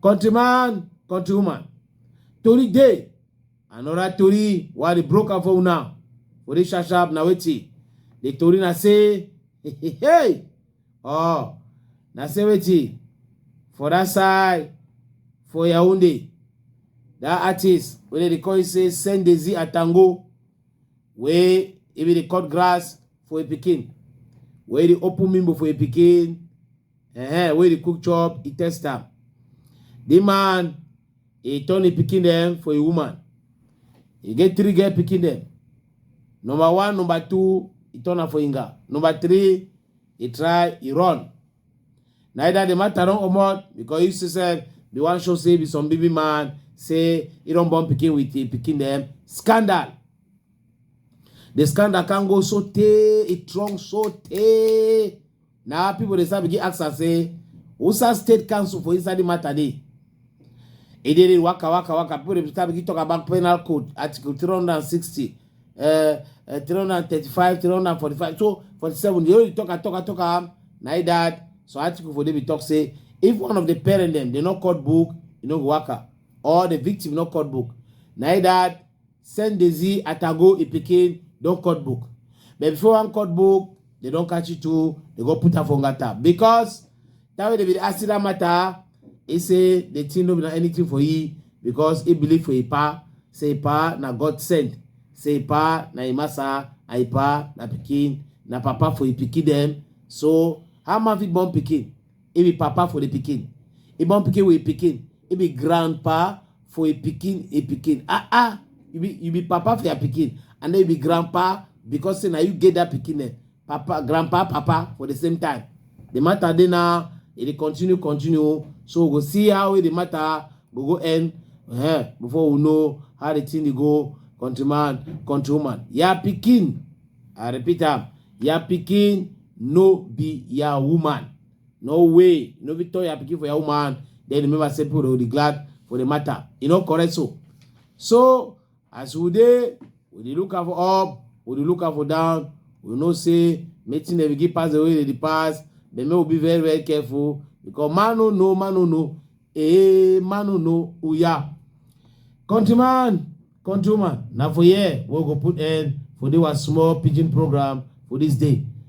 countryman countrywoman tori dey another tori wey i dey broke am for una for this sharp sharp na wetin the tori na say hey oh na say wetin for that side for yaounde that artist wey dem dey call him say sendezi atango wey if you dey cut grass for a pikin wey dey open mimbo for a pikin uh-huh, wey dey cook chop e test am the man e turn e pikin dem for a woman e get three girl pikin dem number one number two e turn am for inga number three e try e run Neither the matter don comot because you see sef the one show say be some baby man say he don born pikin with him pikin dem scandal. The scandal can go so tey e strong so tey na people dey start begin ask am say usa state council for inside the matter dey e dey dey waka waka waka people dey start begin talk about penal code article three hundred and sixty uh, uh, 335 345 so 47 they only talk and talk and talk am na e that so article for david talk say if one of the parent dem dey not cut book e no go waka or the victim no cut book na e that send dezi atago e pikin don cut book but before one cut book they don catch you too they go put am for ngata because that way they be dey ask you that matter He say the thing no be na anything for he because he believe for him pa. Say him pa na God sent. Say him pa na him massa and him pa na pikin na papa for him pikin dem. So how man fit born pikin? He be papa for the pikin. He born pikin with him pikin. He be grandpa for him pikin him pikin. Ah ah, you be you be papa for your pikin and then you be grandpa because say na you get that pikin name. papa grandpa papa for the same time the matter dey now e dey continue continue so we go see how the matter go go end uh, before we know how the thing dey go country man country woman ya pikin i repeat am ya pikin no be ya woman no way no be turn ya pikin for ya woman then remember say people dey glad for the matter e no correct so so as we dey we dey look am for up we dey look am for down we know say meeting dem begin pass the way they dey pass but make we be very very careful because man no know man no know eh man no know oya countryman countrywoman na for here we go put end for this our small pidgin program for this day